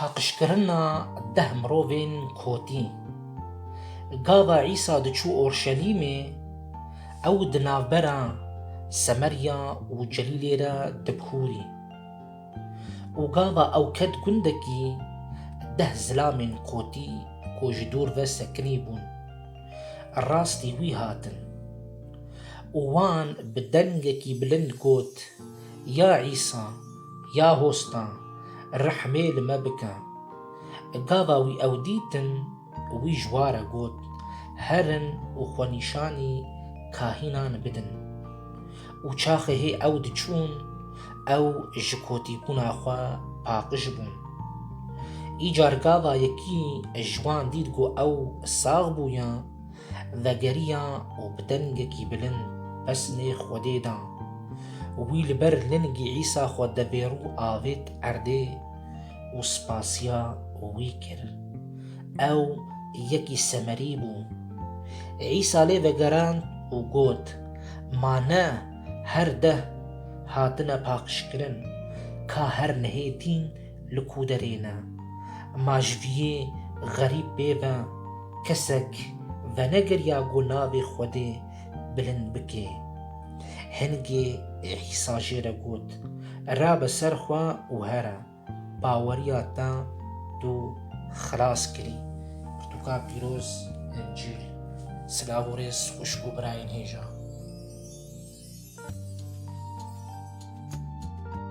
Paqijkirina deh mirovên kotî. Gava Îsa diçû Orşelîmê, ew di navbera Semerya û Celîlê re dikûrî. Û gava ew ket gundekî deh zilamên kotî ku ji dûr ve sekinî bûn. rastî wî hatin û wan bi dengekî bilind got, Ya Îsa, ya hosta, rehmê li me bike! Gava wî ew dîtin, wî ji wa re got, Herin û xwenîşanî kahînan bidin. Û çaxê hê ew diçûn, ew ji kotîbûna xwe paqij bûn. Îcar gava yekî ji wan dît ku ew sax bû ya, vegeriya û bi dengekî bilind pesnê Xwedê da. Wî li ber lingî Îsa xwe devêrû avêt erdê û spasiya wî kir. Ew yekî semerî bû. Îsa lê vegerand û got, Ma ne her deh hatine paqijkirin, ka her nehê tîn li ku derê ne. Ma ji viyê xerîb pê ve kesek venegeriya ku navê Xwedê bilind bike. Hingê Îsa jê re got, Rabe ser xwe û here. Baweriya te tu xilas kirî. Pirtûka pîroz Encîl Silav û rêz xwişk û birayên hêja.